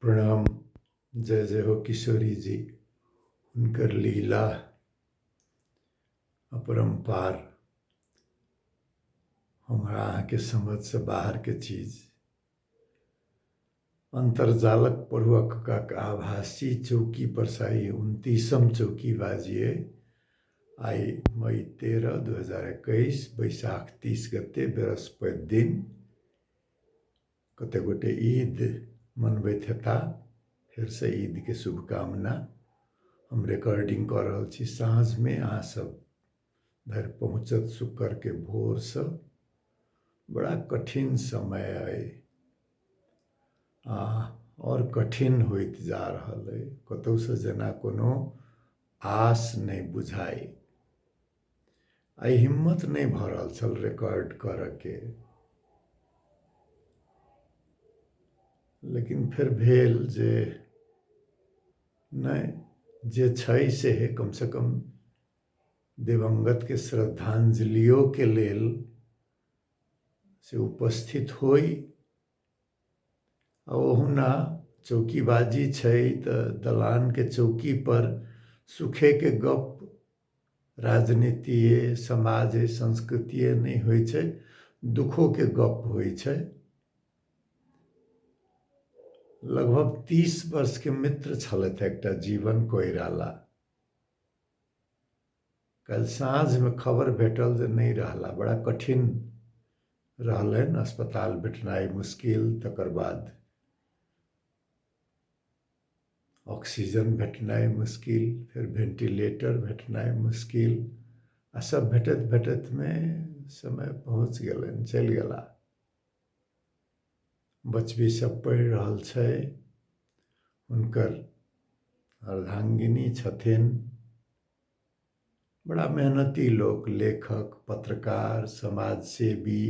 प्रणाम जय जय हो किशोरी जी हुनकर लीला अपरम्पार हमरा अहाँके समझसँ बाहरके चीज अन्तर्जालक पढ़ुअक काक आभासी चौकी परसाई उन्तीसम चौकी बाजिए आइ मई तेरह दू हजार एकैस बैशाख तीस गते बृहस्पति दिन कते गोटे ईद मनबैत हेता फेरसँ ईदके शुभकामना हम रिकॉर्डिंग कऽ रहल छी साँझमे अहाँ सब धरि पहुँचत शुक्रके भोरसँ बड़ा कठिन समय अइ आ आओर कठिन होइत जा रहल अइ कतहुसँ जेना कोनो आस नहि बुझाइ आइ हिम्मत नहि भऽ रहल छल रिकॉर्ड करऽके लेकिन फेर भेल जे नहि जे छै से कमसँ कम दिवंगतके श्रद्धांजलियोके लेल से उपस्थित होइ ओहुना चौकीबाजी छै त दलान के चौकी पर सुखे के गप राजनीतिये, समाजे, संस्कृतिये नहि होइ छै, दुखो के गप होइ छै। लगभग तीस वर्ष के मित्र छलथि एकटा जीवन कोइराला। काल्हि साँझमे खबर भेटल जे नहि रहला बड़ा कठिन रहलनि अस्पताल भेटनाइ मुश्किल तकर बाद ऑक्सीजन भेटनाइ मुश्किल फेर वेंटिलेटर भेटनाइ मुश्किल आ सब भेटत भेटत में समय पहुँच गलन चल गला बचबी सब पढ़ रहा है उनकर अर्धांगिनी छथिन बड़ा मेहनती लोक लेखक पत्रकार समाजसेवी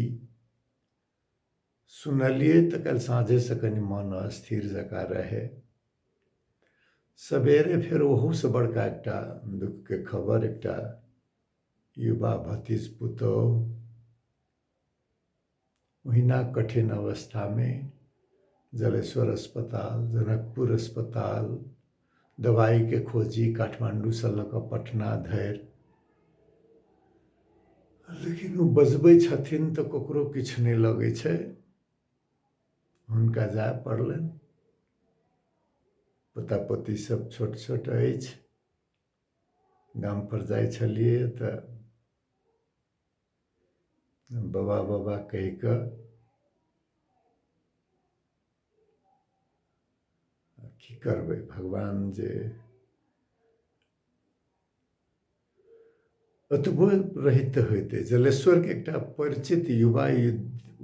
सुनलियै तऽ काल्हि साँझेसँ कनि मन अस्थिर जकाँ रहै सवेरे फेर ओहूसँ बड़का एकटा दुःखके खबर एकटा युवा भतीज पुतहु ओहिना कठिन अवस्थामे जलेश्वर अस्पताल जनकपुर अस्पताल दवाइके खोजी काठमाण्डूसँ लऽ कऽ पटना धरि लेकिन ओ बजबै छथिन तऽ ककरो किछु नहि लगै छै हुनका जाय पड़लनि पोता पोती सब छोट छोट अछि गामपर जाइ छलियै तऽ बाबा बाबा कहि कऽ की करबै भगवान जे ओतबो रहित होइते जलेश्वरके एकटा परिचित युवा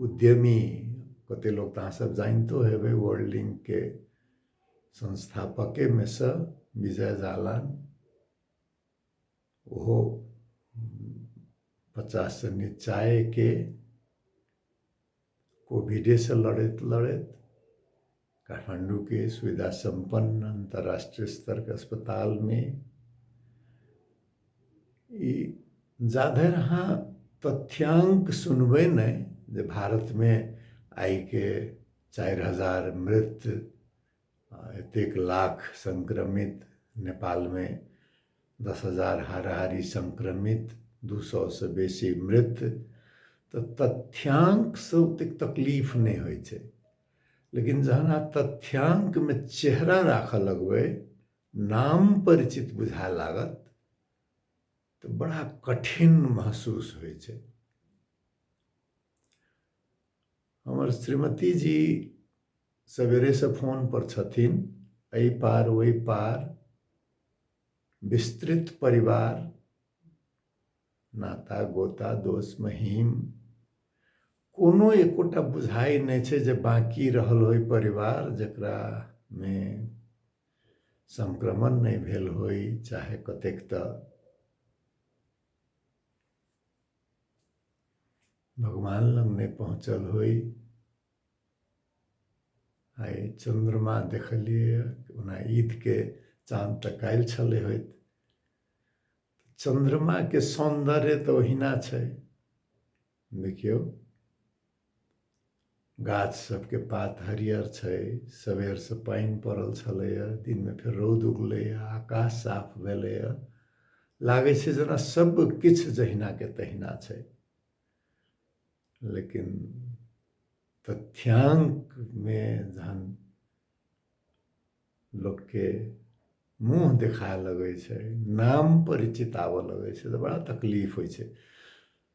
उद्यमी कतेक लोक तऽ अहाँसभ जानितो हेबै वर्ल्ड लिंकके संस्थापकेमे सँ विजय जालान ओहो पचाससँ निचायेके कोभिडेसँ लड़ैत लड़ैत काठमाण्डूके सुविधा सम्पन्न अन्तर्राष्ट्रीय स्तरके अस्पतालमे ई जाधरि अहाँ तथ्याङ्क सुनबै नहि जे भारतमे आइके चारि हजार मृत एतेक लाख संक्रमित नेपालमे दस हजार हाराहारी संक्रमित दू सए से बेसी मृत तऽ तथ्यांक से ओतेक तकलीफ नहि होइ छै लेकिन जहन अहाँ तथ्यांकमे चेहरा राखऽ लगबै नाम परिचित बुझाए लागत तऽ बड़ा कठिन महसूस होइ छै हमर श्रीमती जी सवेरेसँ फोनपर छथिन एहि पार ओहि पार विस्तृत परिवार नाता गोता दोष महीम कोनो एकोटा बुझाइ नहि छै जे बाँकी रहल होइ परिवार जकरामे संक्रमण नहि भेल होइ चाहे कतेक तऽ भगवान लग नहि पहुँचल होइ आइ चन्द्रमा देखलियै ओना ईदके चाँद तऽ काल्हि छलै होइत चन्द्रमाके सौन्दर्य तऽ ओहिना छै देखियौ गाछ सबके पात हरियर छै सबेरसँ पानि पड़ल छलैए दिनमे फेर रौद उगलैए आकाश साफ भेलैए लागै छै जेना सब किछु जहिनाके तहिना छै लेकिन तथ्यांकमे जहन लोकके मुँह देखाए लगै छै नाम परिचित आबऽ लगै छै तऽ बड़ा तकलीफ होइ छै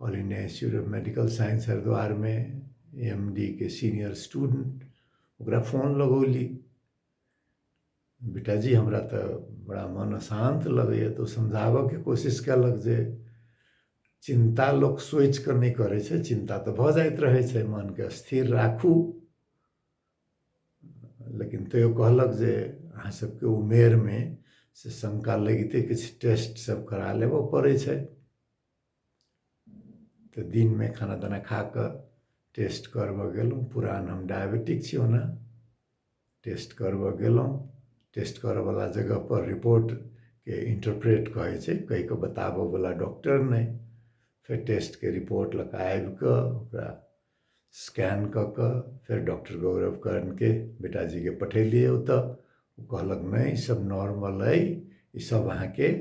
all India institute of medical science हरिद्वारमे एम डी के सीनियर स्टूडेंट ओकरा फोन लगौली बेटाजी हमरा तऽ बड़ा मन अशान्त लगैए तऽ ओ समझाबऽके कोशिश कयलक जे चिन्ता लोक सोचि कऽ नहि करै छै चिन्ता तऽ भऽ जाइत रहै छै मनके स्थिर राखू लेकिन तैयो कहलक जे अहाँ सभके उमेरमे से शङ्का लगिते किछु टेस्ट सभ करा लेबऽ पड़ै छै तऽ दिनमे खाना ताना खा कऽ टेस्ट करबय गेलहुँ पुरान हम डायबिटिक छी ओना टेस्ट करबय गेलहुँ टेस्ट करयवला जगहपर रिपोर्टके इंटरप्रेट कहै छै कहि कऽ बताबयवला डॉक्टर नहि फेर टेस्टके रिपोर्ट लऽ कऽ आबि कऽ ओकरा स्कैन कऽ कऽ फेर डॉक्टर गौरव कर्णके बेटाजीके पठेलियै ओतय ओ कहलक नहि ईसभ नॉर्मल अइ ईसभ अहाँके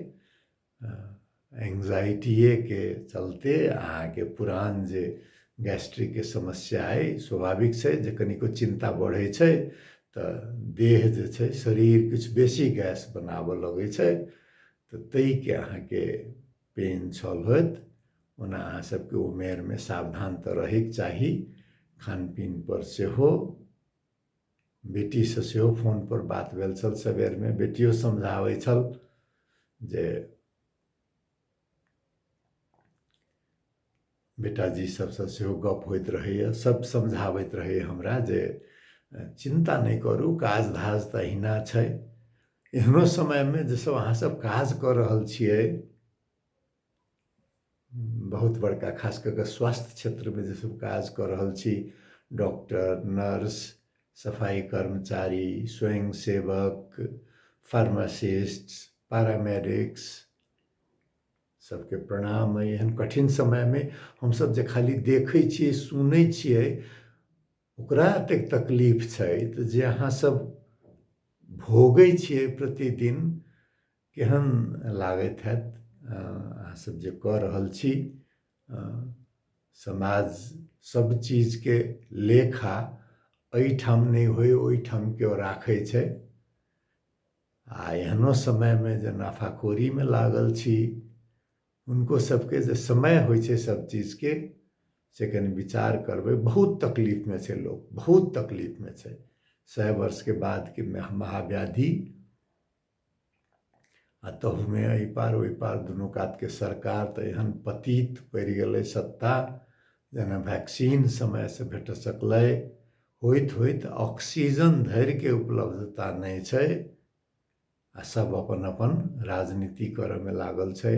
एंग्जाइटिएके चलते अहाँके पुरान जे गैस्ट्रिकके समस्या अइ स्वाभाविक छै जे कनिको चिन्ता बढ़ै छै तऽ देह जे छै शरीर किछु बेसी गैस बनाबऽ लगै छै तऽ ताहिके अहाँके पेन छल होत ओना अहाँ सभके उमेरमे सावधान तऽ रहयके चाही खानपीनपर सेहो बेटीसँ सेहो फोनपर बात भेल छल सवेरमे बेटियो समझाबै छल जे बेटाजी सभसँ सेहो गप होइत रहैए सभ समझाबैत रहैए हमरा जे चिन्ता नहि करू काज धाज तऽ अहिना छै एहनो समयमे जे सभ अहाँसभ काज कऽ रहल छियै बहुत बड़का खास कऽ कऽ स्वास्थ्य क्षेत्रमे जे सब काज कऽ रहल छी डॉक्टर नर्स सफाइ कर्मचारी स्वयं सेवक फार्मासिस्ट पैरामेडिक्स सबके प्रणाम अइ एहन कठिन समयमे हमसब जे खाली देखै छियै सुनै छियै ओकरा एतेक तकलीफ छै जे अहाँ सब भोगै छियै प्रतिदिन केहन लागैत हैत अहाँसभ जे कऽ रहल छी समाज सब चीजके लेखा एहिठाम नहि होइ ओहिठाम केओ राखै छै आ एहनो समयमे जे नाफाखोरीमे लागल छी हुनको सबके जे समय होइ छै सब चीजके से कनि विचार करबै बहुत तकलीफमे छै लोक बहुत तकलीफमे छै सए वर्षके बादके महाव्याधि आ तहूमे एहि पार ओहि पार दुनू कातके सरकार तऽ एहन पतित पड़ि गेलै सत्ता जेना वैक्सीन समयसँ भेट सकलै होइत होइत ऑक्सीजन धरिके उपलब्धता नहि छै आ सभ अपन अपन राजनीति करयमे लागल छै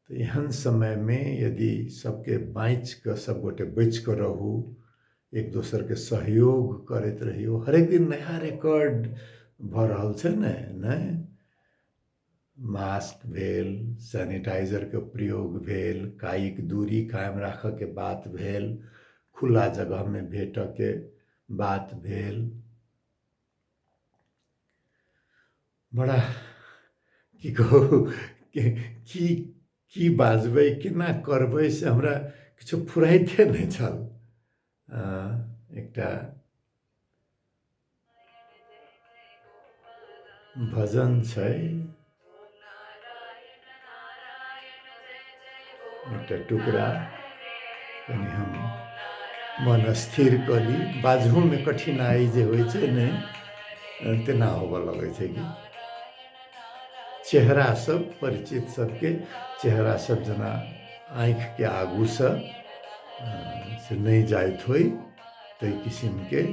तऽ एहन समयमे यदि सभके बाँचि कऽ सभ गोटे बचि कऽ रहू एक दोसरके सहयोग करैत रहियौ हरेक दिन नया रिकॉर्ड भऽ रहल छै ने नहि मास्क भेल सैनिटाइजरके प्रयोग भेल कायिक दूरी कायम राखऽके बात भेल खुला जगहमे भेटऽके बात भेल बड़ा की कहू की की बाजबै केना करबै से हमरा किछु फुराइते नहि छल एकटा भजन छै एकटा टुकड़ा कनि हम मन स्थिर कऽ ली बाजहोमे कठिनाइ जे होइ छै ने तेना होबऽ लगै छै कि चेहरा सब परिचित सबके चेहरा सब जेना आँखिके आगूसँ से नहि जाइत होइ ताहि किसिमके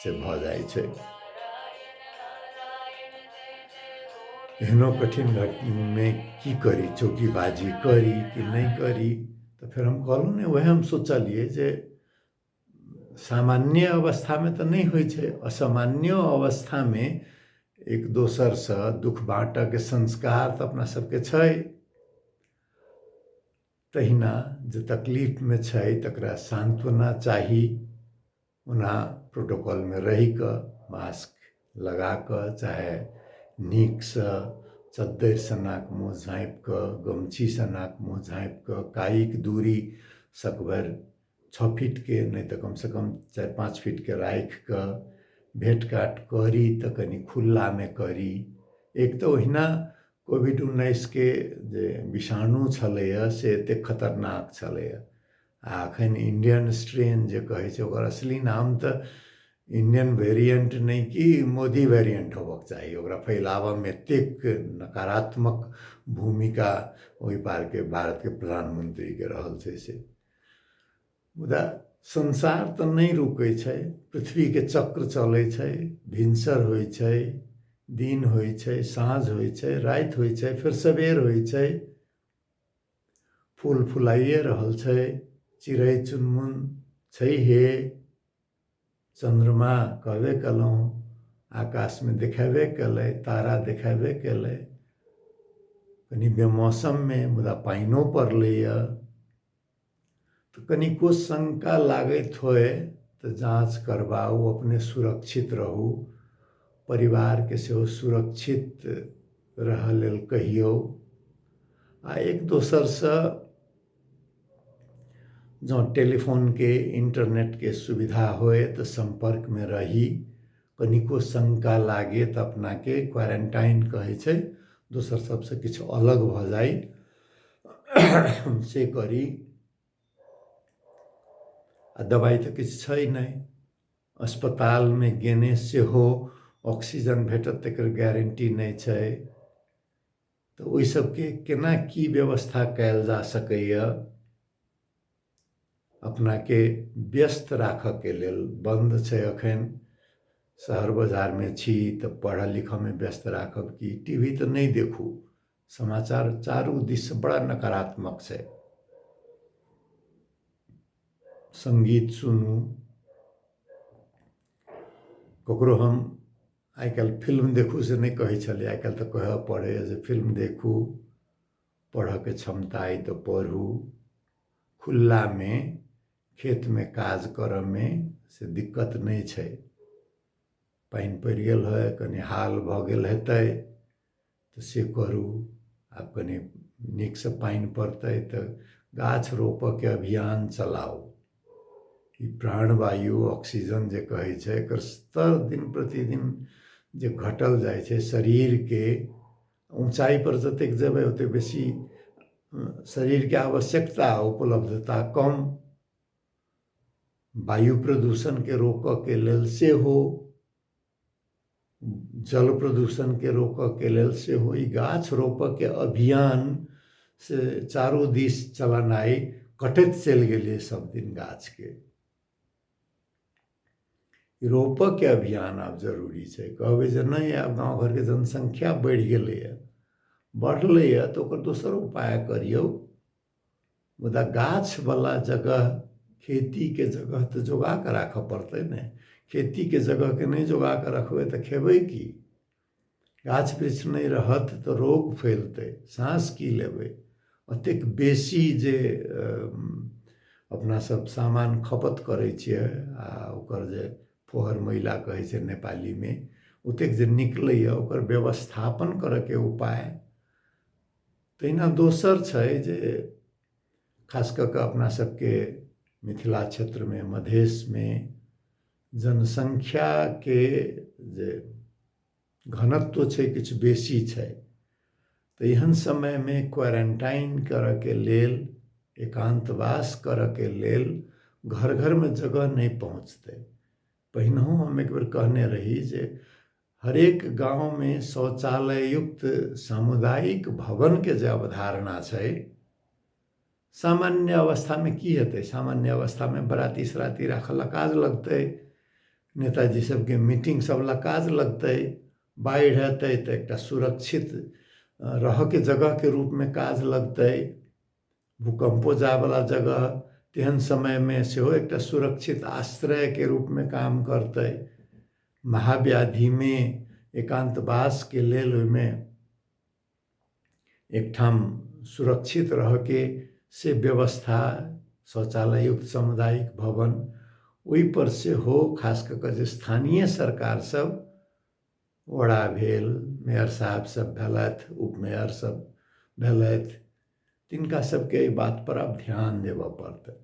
से भऽ जाइ छै एहनो कठिन घटनामे की करी चौकीबाजी करी कि नहि करी तऽ फेर हम कहलहुँ ने उएह हम सोचलियै जे सामान्य अवस्थामे तऽ नहि होइ छै असामान्य अवस्थामे एक दोसरसँ दुख बाँटयके संस्कार तऽ अपना सभके छै तहिना जे तकलीफमे छै तकरा सान्त्वना चाही ओना प्रोटोकॉलमे रहि कऽ मास्क लगा कऽ चाहे नीकसँ चद्दरिसँ नाक मुँह झाँपि कऽ गमछीसँ नाक मुँह झाँपि कऽ कायिक दूरी सकभरि छओ फीटके नहि तऽ कमसँ कम चारि पाँच फीटके राखि कऽ भेँट घाँट करी तऽ कनि खुल्लामे करी एक तऽ ओहिना कोविड उन्नैसके जे विषाणु छलैए से एतेक खतरनाक छलैए आ एखन इण्डियन स्ट्रेन जे कहै छै ओकर असली नाम तऽ इण्डियन वेरिएन्ट नहि कि मोदी वेरिएन्ट होबऽके चाही ओकरा फैलाबऽमे एतेक नकारात्मक भूमिका ओहि पारके भारतके प्रधानमन्त्रीके रहल छै से मुदा संसार तऽ नहि रुकै छै पृथ्वीके चक्र चलै छै भिनसर होइ छै दिन होइ छै साँझ होइ छै राति होइ छै फेर सबेर होइ छै फूल फुलाइए रहल छै चिड़ै चुनमुन छैहे चन्द्रमा कहबे कयलहुँ आकाशमे देखेबे कयलै तारा देखेबे कयलै कनि बेमौसममे मुदा पानिओ पड़लैए तऽ कनिको शंका लागैत होय तऽ जाँच करबाउ अपने सुरक्षित रहू परिवारके सेहो सुरक्षित रहऽ लेल कहियौ आ एक दोसरसँ जँ टेलीफोनके इंटरनेटके सुविधा होय तऽ सम्पर्कमे रही कनिको शङ्का लागे तऽ अपनाके क्वारेन्टाइन कहै छै दोसर सभसँ किछु अलग भऽ जाइ से करी आ दबाइ तऽ किछु छै नहि अस्पतालमे गेने सेहो ऑक्सीजन भेटत तकर गारंटी नहि छै तऽ ओहि सभके केना की व्यवस्था कयल जा सकैए अपनाके व्यस्त राखऽके लेल बन्द छै एखन शहर बजारमे छी तऽ पढ़ऽ लिखऽमे व्यस्त राखब कि टी वी तऽ नहि देखू समाचार चारू दिससँ बड़ा नकारात्मक छै सङ्गीत सुनू ककरो हम आइ काल्हि फिल्म देखू से नहि कहै छलियै आइ काल्हि तऽ कहऽ पड़ैए जे फिल्म देखू पढ़ऽके क्षमता अइ तऽ पढ़ू खुल्लामे खेतमे काज करऽमे से दिक्कत नहि छै पानि पड़ि गेल है कनी हाल भऽ गेल हेतै तऽ से करू आब कनी नीकसँ पानि पड़तै तऽ गाछ रोपऽके अभियान चलाउ ई प्राण वायु ऑक्सीजन जे कहै छै एकर स्तर दिन प्रतिदिन जे घटल जाइ छै शरीरके ऊँचाइपर जतेक जेबै ओतेक बेसी शरीरके आवश्यकता उपलब्धता कम वायु प्रदूषणके रोकऽके लेल सेहो जल प्रदूषणके रोकऽके लेल सेहो ई गाछ रोपऽके अभियान से चारू दिस चलेनाइ कटैत चलि गेलै सभदिन गाछके रोपऽके अभियान आब जरूरी छै कहबै जे नहि आब गाँव घरके जनसंख्या बढ़ि गेलैए बढ़लैए तऽ ओकर दोसर उपाय करियौ मुदा गाछवला जगह खेतीके जगह तऽ जोगा कऽ राखय पड़तै ने खेतीके जगहके नहि जोगा कऽ रखबै तऽ खेबै की गाछ वृक्ष नहि रहत तऽ रोग फैलतै साँस की लेबै ओतेक बेसी जे अपनासभ सामान खपत करै छियै आ ओकर जे फोहर मैला कहै छै नेपालीमे ओतेक जे निकलैए ओकर व्यवस्थापन करयके उपाय तहिना दोसर छै जे खास कऽ कऽ अपना सभके मिथिला क्षेत्रमे मधेशमे जनसङ्ख्याके जे घनत्व छै किछु बेसी छै तऽ एहन समयमे क्वारंटाइन करऽके लेल एकान्तवास करऽके लेल घर घरमे जगह नहि पहुँचतै पहिनहु हम एक बेर कहने रही जे हरेक गाँवमे शौचालय युक्त सामुदायिक भवनके जे अवधारणा छै सामान्य अवस्थामे की हेतै सामान्य अवस्थामे बराती सराती राखऽ लए काज लगतै नेताजी सबके मीटिंग सब लए काज लगतै बाढ़ि हेतै तऽ एकटा सुरक्षित रहऽके जगहके रूपमे काज लगतै भूकम्पो जायवला जगह तेहन समयमे सेहो एकटा सुरक्षित आश्रयके रूपमे काम करतै महाव्याधिमे एकान्तवासके लेल ओहिमे एकठाम सुरक्षित रहके से व्यवस्था शौचालययुक्त सामुदायिक भवन ओहिपर सेहो खास कऽ कऽ जे स्थानीय सरकारसभ वडा भेल मेयर साहबसभ भेलथि उपमेयरसभ भेलथि तिनका सभके एहि बातपर आब ध्यान देबय पड़तनि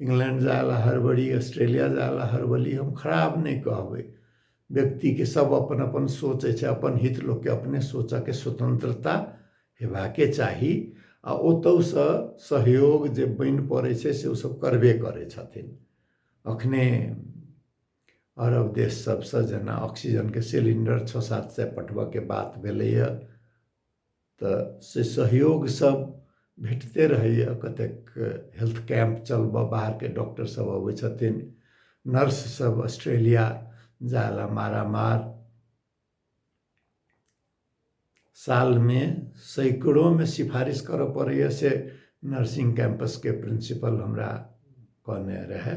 इंग्लैण्ड जाय लए हड़बड़ी ऑस्ट्रेलिया जाय लए हड़बड़ी हम खराब नहि कहबै व्यक्तिके सब अपन अपन सोच अछि अपन हित लोकके अपने सोचऽके स्वतन्त्रता हेबाके चाही आ ओतहुसँ सहयोग जे बनि पड़ै छै से ओसब करबे करै छथिन अखने अरब देश सबसँ जेना ऑक्सीजनके सिलिण्डर छओ सात सए पठबऽके बात भेलैया तऽ से सहयोग सब भेटते रहैए कतेक हेल्थ कैम्प चलबऽ बाहरके डॉक्टर सब अबै छथिन नर्स सब ऑस्ट्रेलिया जाय लए मारामार सालमे सैकड़ोमे सिफारिश करऽ पड़ैए से नर्सिंग कैंपसके प्रिंसिपल हमरा कहने रहए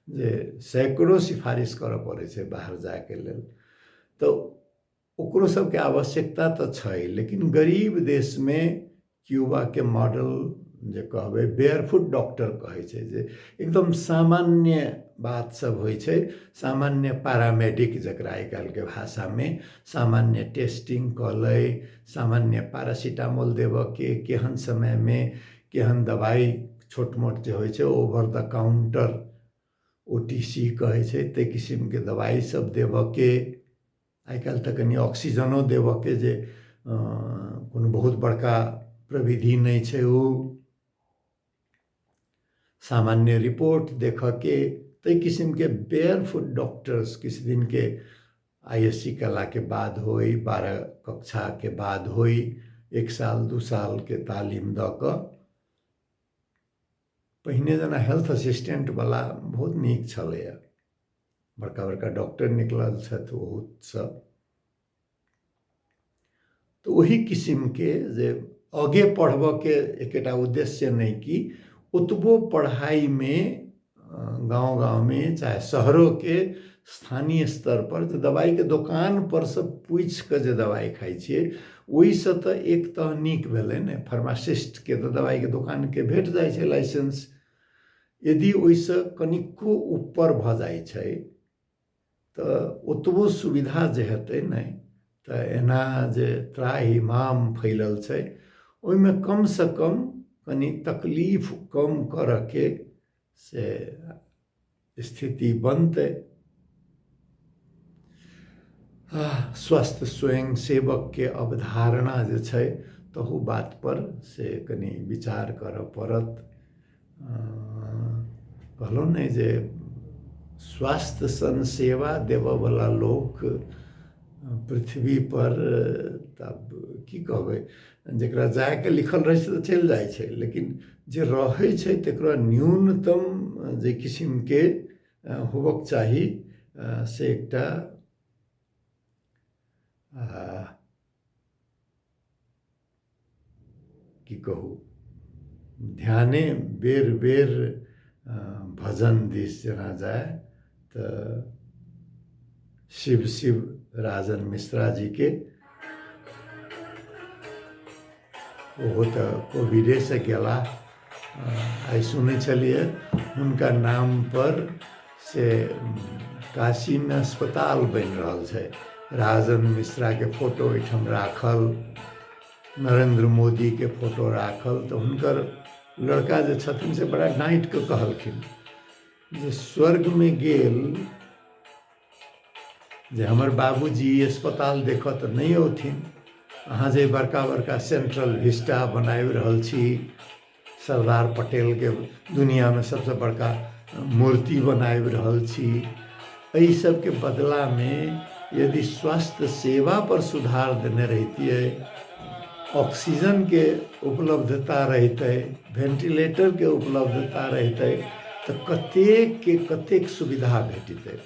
जे सैकड़ो सिफारिश करऽ पड़ै छै बाहर जायके लेल तऽ ओकरो सबके आवश्यकता तऽ छै लेकिन गरीब देशमे क्यूबाके मॉडल जे कहबै बेयरफुट डॉक्टर कहै छै जे एकदम सामान्य बात सब होइ छै सामान्य पैरामेडिक जकरा आइ काल्हिके भाषामे सामान्य टेस्टिंग कऽ लै सामान्य पैरासिटामोल देबऽके केहन समयमे केहन दवाइ छोट मोट जे होइ छै over the counter O T C कहै छै ताहि किसिमके दवाइ सब देबऽके आइ काल्हि तऽ कनि ऑक्सीजनो देबऽके जे कोनो बहुत बड़का प्रविधि नहि छै ओ सामान्य रिपोर्ट देखऽके ताहि किसिमके बेयर फुट डॉक्टर्स किछु दिनके आई एस सी कयलाके बाद होइ बारह कक्षाके बाद होइ एक साल दू सालके तालीम दऽ कऽ पहिने जेना हेल्थ असिस्टेन्टवला बहुत नीक छलैए बड़का बड़का डॉक्टर निकलल छथि ओहोसभ तऽ ओही किसिमके जे आगे पढ़बऽके एकेटा उद्देश्य नहि कि ओतबो पढ़ाइमे गाँव गाँवमे चाहे शहरोके स्थानीय स्तर पर जे दवाई के दुकान पर से पूछ के जे दवाई खाई छे ओई से तो एक तो निक भेले ने फार्मासिस्ट के तो दवाई के दुकान के भेट जाय छे लाइसेंस यदि ओई से कनिको ऊपर भ जाय छे तो ओतबो सुविधा जे हेते ने तो एना जे त्राही माम फैलल छे ओई में कम से कम कनी तकलीफ कम करके से स्थिति बनतै स्वस्थ स्वयं सेवक के अवधारणा जे छै तहू बात पर से कनी विचार करऽ पड़त कहलहुँ ने जे स्वास्थ्य सन सेवा देबऽवला लोक पृथ्वी पर तब की कहबै जकरा जायके लिखल रहै छै तऽ चलि जाइ छै लेकिन जे रहै छै तकरा न्यूनतम जे किसिमके होबक चाही से एकटा की कहू ध्याने बेर बेर भजन दिस जेना जाय तऽ शिव शिव राजन मिश्रा जीके ओहो तऽ कोविडेसँ गेला आइ सुनै छलियै हुनका नामपर से काशीमे अस्पताल बनि रहल छै राजन मिश्राके फोटो ओहिठाम राखल नरेंद्र मोदीके फोटो राखल तऽ हुनकर लड़का जे छथिन से बड़ा डाँटि कऽ कहलखिन जे स्वर्गमे गेल जे हमर बाबूजी अस्पताल देखऽ तऽ नहि औथिन अहाँ जे बड़का बड़का सेंट्रल विस्टा बनाबि रहल छी सरदार पटेलके दुनिआँमे सभसँ बड़का मूर्ति बनाबि रहल छी एहि सबके बदलामे यदि स्वास्थ्य सेवा पर सुधार देने रहितियै ऑक्सीजनके उपलब्धता रहितै वेंटिलेटरके उपलब्धता रहितै तऽ कतेकके कतेक सुविधा भेटितै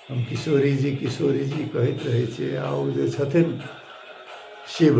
हम किशोरी जी किशोरी जी कहैत रहै छियै आ ओ जे छथिन शिव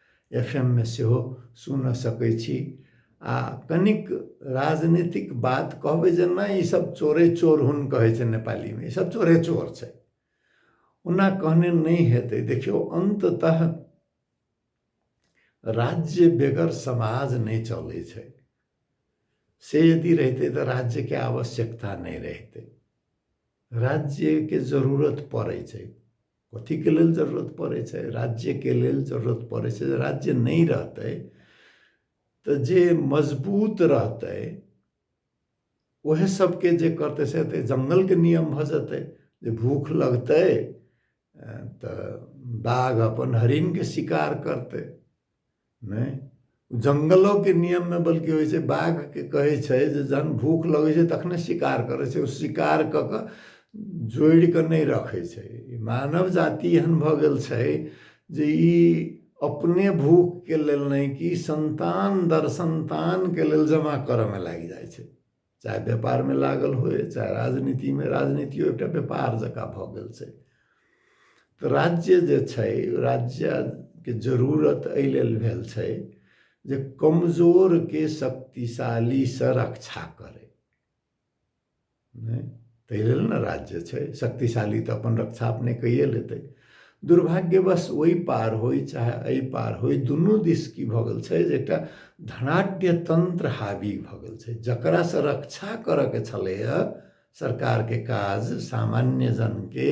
एफ एम मे सेहो सुनऽ सकै छी आ कनिक राजनीतिक बात कहबै जे नहि ई सब चोरे चोर हुन कहै छै नेपाली मे ई सब चोरे चोर छै ओना कहने नहि हेतै देखियौ अन्ततः राज्य बेगर समाज नहि चलै छै से यदि रहितै तऽ राज्यके आवश्यकता नहि रहितै राज्यके जरूरत पड़ै छै कथीके लेल जरूरत पड़ै छै राज्यके लेल जरूरत पड़ै छै राज्य नहि रहतै तऽ जे मजबूत रहतै ओहे सबके जे करतै से तऽ जङ्गलके नियम भऽ जेतै जे भूख लगतै तऽ बाघ अपन हरिणके शिकार करतै नहि जङ्गलोके नियममे बल्कि होइ छै बाघके कहै छै जे जहन भूख लगै छै तखने शिकार करै छै ओ शिकार कऽ कऽ जोड़ि कऽ नहि रखै छै मानव जाति एहन भऽ गेल छै जे ई अपने भूखके लेल नहि कि सन्तान दर सन्तानके लेल जमा करऽमे लागि जाइ छै चाहे व्यापारमे लागल होय चाहे राजनीतिमे राजनीतियो एकटा व्यापार जकाँ भऽ गेल छै तऽ राज्य जे छै राज्यके जरूरत एहि लेल भेल छै जे कमजोरके शक्तिशालीसँ रक्षा करय नहि ताहि लेल ने राज्य छै शक्तिशाली तऽ अपन रक्षा अपने कैए लेतै दुर्भाग्यवश ओहि पार होइ चाहे एहि पार होइ दुनू दिस की भऽ गेल छै जे एकटा धनाट्य तंत्र हावी भऽ गेल छै जकरासँ रक्षा करयके छलैए सरकारके काज सामान्य जनके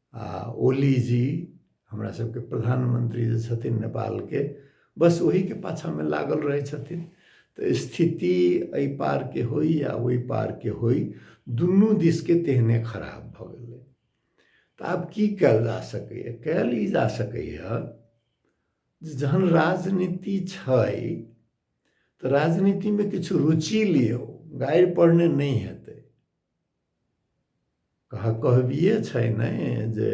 आ ओली जी हमरा सबके प्रधानमंत्री जे छथिन नेपालके बस ओहीके पाछामे लागल रहै छथिन तऽ स्थिति एहि पारके होइ या ओहि पारके होइ दुनू दिसके तेहने खराब भऽ गेलै तऽ आब की कयल जा सकैए कयल ई जा सकैए जे जहन राजनीति छै तऽ राजनीतिमे किछु रुचि लियौ गाड़ि पढ़ने नहि हेतै कह कहबिए छै ने जे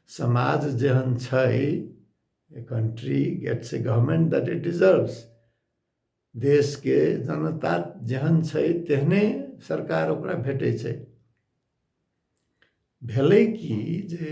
समाज जेहन छै a country gets a government that it deserves देशके जनता जेहन छै तेहने सरकार ओकरा भेटै छै भेलै कि जे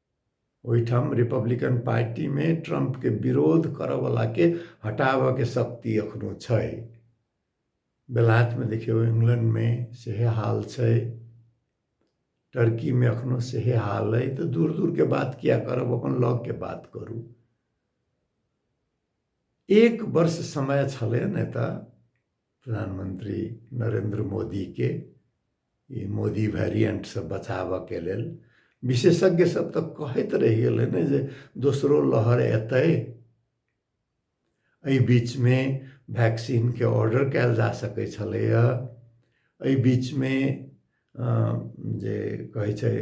ओहिठाम रिपब्लिकन पार्टीमे ट्रम्पके विरोध करऽवलाके हटाबऽके शक्ति एखनो छै बेलायतमे देखियौ इंग्लैंडमे सेहे हाल छै टर्कीमे एखनो सेहे हाल अइ तऽ दूर दूरके बात किया करब अपन लगके बात करू एक वर्ष समय छलै नेता प्रधानमंत्री नरेंद्र मोदीके ई मोदी वेरिएंटसँ बचाबऽके लेल विशेषज्ञ सब तऽ कहैत रहि गेल है ने जे दोसरो लहर एतै एहि बीचमे वैक्सीनके ऑर्डर कयल जा सकै छलैए एहि बीचमे जे कहै छै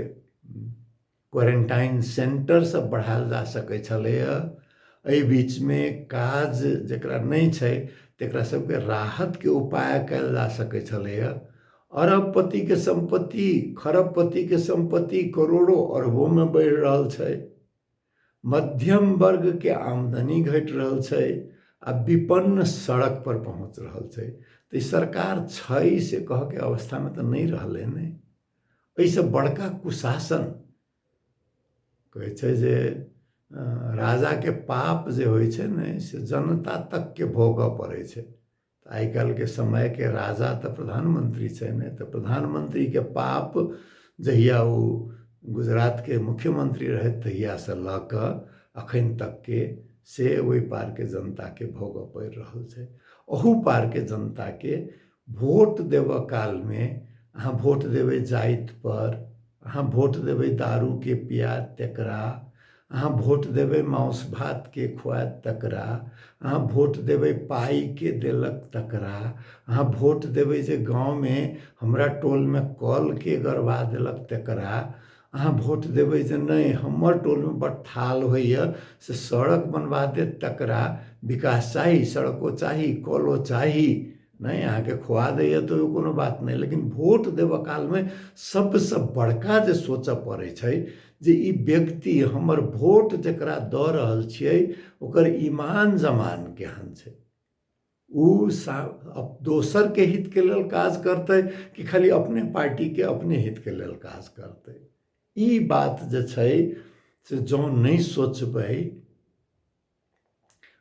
क्वारेन्टाइन सेन्टर सब बढ़ायल जा सकै छलैए एहि बीचमे काज जकरा नहि छै तकरा सबके राहतके उपाय कयल जा सकै छलैए अरबपतिके सम्पत्ति खरबपतिके सम्पत्ति करोड़ो अरबोमे बढ़ि रहल छै मध्यम वर्गके आमदनी घटि रहल छै आ विपन्न सड़क पर पहुँच रहल छै तऽ ई सरकार छै से कहऽके अवस्थामे तऽ नहि रहलै ने एहिसँ बड़का कुशासन कहै छै जे राजाके पाप जे होइ छै ने से जनता तकके भोगऽ पड़ै छै आइ काल्हिके समयके राजा तऽ प्रधानमंत्री छै ने तऽ प्रधानमंत्रीके पाप जहिया ओ गुजरातके मुख्यमंत्री रहथि तहियासँ लऽ कऽ अखन तकके से ओहि पारके जनताके भोगऽ पड़ि रहल छै ओहू पारके जनताके भोट देबऽ कालमे अहाँ भोट देबै जाइतपर अहाँ भोट देबै दारूके पियाद तकरा अहाँ भोट देबै माउस भातके खुआद तकरा अहाँ भोट देबै पाइके देलक तकरा अहाँ भोट देबै जे गाँवमे हमरा टोलमे कलके गड़बा देलक तकरा अहाँ वोट देबै जे नहि हमर टोलमे बड थाल होइए से सड़क बनबा देत तकरा विकास चाही सड़को चाही कलो चाही नहि अहाँके खुआ दैए तऽ ओ कोनो बात नहि लेकिन वोट देबऽ कालमे सभसँ बड़का जे सोचऽ पड़ै छै जे ई व्यक्ति हमर वोट जकरा दऽ रहल छियै ओकर ईमान जमान केहन छै ओ दोसरके हितके लेल काज करतै कि खाली अपने पार्टीके अपने हितके लेल काज करतै ई बात जे छै से जँ नहि सोचबै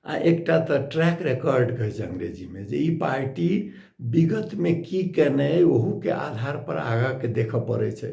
आ एकटा तऽ ट्रैक रिकॉर्ड कहै छै अंग्रेजीमे जे ई पार्टी विगतमे की केने अइ ओहूके आधारपर आगाँके देखय पड़ै छै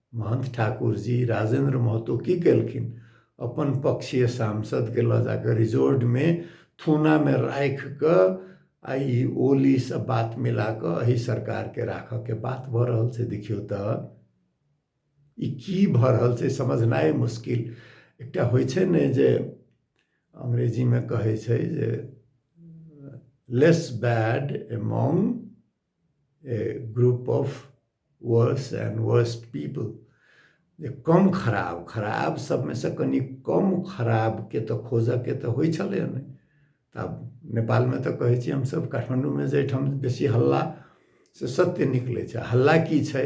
महन्थ ठाकुर जी राजेन्द्र महतो की केलखिन अपन पक्षीय सांसद के लऽ जाकर रिजोर्ट मे थूना मे राखि कऽ आ ई ओली सब बात मिला कऽ एहि सरकार के राखऽ के बात भऽ रहल छै देखियौ तऽ ई की भऽ रहल छै समझनाइ मुश्किल एकटा होइ छै ने जे अंग्रेजी मे कहै छै जे less bad among group of worse and worse people जे कम खराब खराब सबमे से कनि कम खराब के तऽ खोजऽ के तऽ होइ छलै नहि तऽ आब नेपाल में तऽ कहै छी हमसब काठमांडू में जे एहिठाम बेसी हल्ला से सत्य निकलै छै हल्ला की छै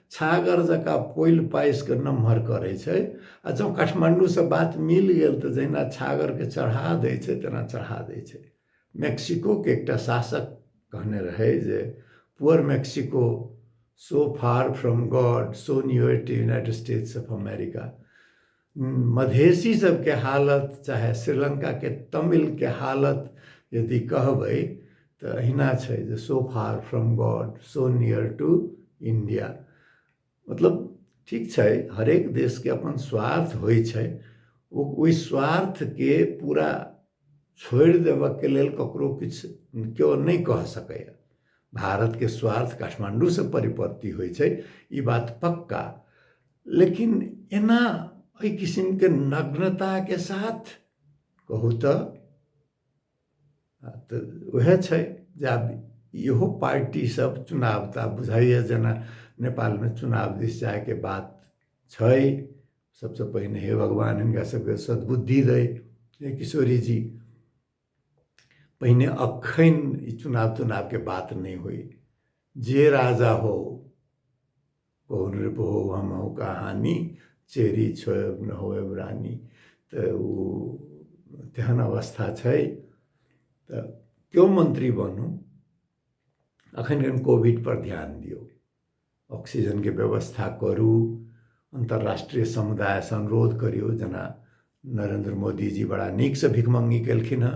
छागर जकाँ पोलि पासि कऽ नमहर करै छै आ जँ काठमाण्डूसँ बात मिल गेल तऽ जहिना छागरके चढ़ा दै छै तेना चढ़ा दै छै मेक्सिकोके एकटा शासक कहने रहै जे poor Mexico so far from God so near to United States of America Madhesi सबके हालत चाहे श्रीलङ्काके तमिलके हालत यदि कहबै तऽ अहिना छै जे सो far from God so near to India मतलब ठीक छै हरेक देशके अपन स्वार्थ होइ छै ओ ओहि स्वार्थके पूरा छोड़ि देबऽके लेल ककरो किछु केओ नहि कह सकैए भारतके स्वार्थ काठमाण्डूसँ परिपत्ति होइ छै ई बात पक्का लेकिन एना एहि किसिमके नग्नताके साथ कहू तऽ तऽ उएह छै जे आब इहो पार्टीसभ चुनाव तऽ आब बुझाइए जेना नेपालमे चुनाव दिस जायके बात छै सभसँ पहिने हे भगवान हिनका सभके सद्बुद्धि दै हे किशोरी जी पहिने एखन ई चुनाव तुनावके बात नहि होय जे राजा हो पहुन रे पहो हम हो कहानी चेरी छो न हो रानी तऽ ओ तेहन अवस्था छै तऽ केओ मंत्री बनू अखन कनि कोविड पर ध्यान दियौ ऑक्सीजनके व्यवस्था करू अन्तर्राष्ट्रीय समुदायसँ अनुरोध करियौ जेना नरेन्द्र मोदीजी बड़ा नीकसँ भिखमङ्गी केलखिन हेँ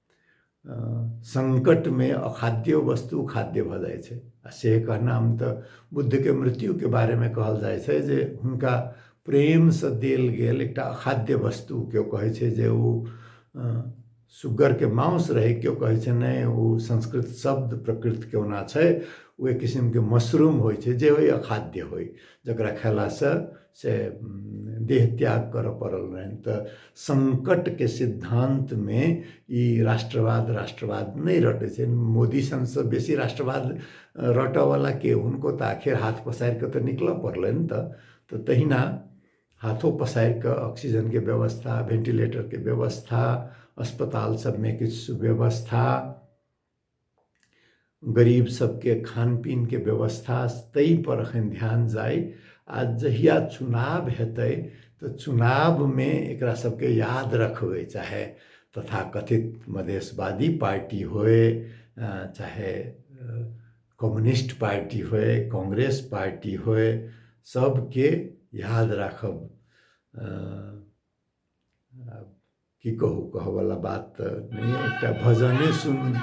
संकटमे अखाद्य वस्तु खाद्य भऽ जाइ छै आ से कहनाम तऽ बुद्धके मृत्युके बारेमे कहल जाइ छै जे हुनका प्रेमसँ देल गेल एकटा अखाद्य वस्तु केओ कहै छै जे ओ सुगरके मांस रहै केओ कहै छै नहि ओ संस्कृत शब्द प्रकृतके ओना छै ओ एक किसिमके मशरूम होइ छै जे होइ अखाद्य होइ जकरा खयलासँ से देह त्याग करऽ पड़ल रहनि तऽ संकटके सिद्धान्तमे ई राष्ट्रवाद राष्ट्रवाद नहि रटै छै मोदी सनसँ बेसी राष्ट्रवाद रटऽवला के हुनको तऽ आखिर हाथ पसारि कऽ तऽ निकलऽ पड़लनि तऽ तऽ तहिना हाथो पसारि कऽ ऑक्सीजनके व्यवस्था वेंटिलेटरके व्यवस्था अस्पताल सभमे किछु सुव्यवस्था गरीब सबके खानपीन के व्यवस्था तई पर अखन ध्यान जाय आ जहिया चुनाव हेतै तऽ चुनाव में एकरा सबके याद रखबै चाहे तथाकथित मधेशवादी पार्टी होय चाहे कम्युनिस्ट पार्टी होय कांग्रेस पार्टी होय सबके याद राखब की कहू कहऽवला बात तऽ नहि अइ, एकटा भजने सुनू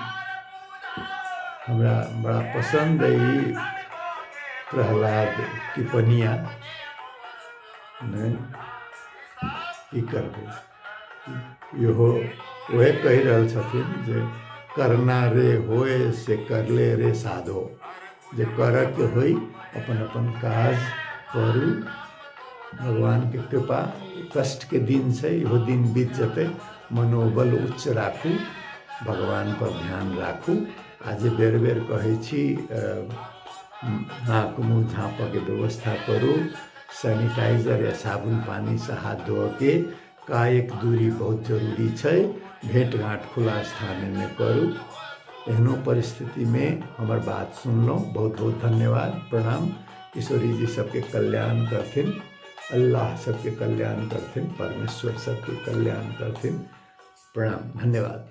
हमरा बड़ा पसन्द अइ ई प्रहलाद टिप्पणिया नहि की करबै इहो उहे कहि रहल छथिन जे करना रे होय से करले रे साधो जे करऽके होइ अपन अपन काज करू भगवानके कृपा कष्टके दिन छै इहो दिन बीत जेतै मनोबल उच्च राखू भगवानपर ध्यान राखू आ जे बेर बेर कहै छी नाक मुँह झाँपऽके व्यवस्था करू सैनिटाइजर या साबुन पानिसँ हाथ धोअके कायक दूरी बहुत जरूरी छै भेंट घाट खुला स्थान में करू एहनो परिस्थिति में हमर बात सुनलहुँ बहुत बहुत धन्यवाद प्रणाम किशोरी जी सबके कल्याण करथिन अल्लाह सबके कल्याण करथिन परमेश्वर सबके कल्याण करथिन प्रणाम धन्यवाद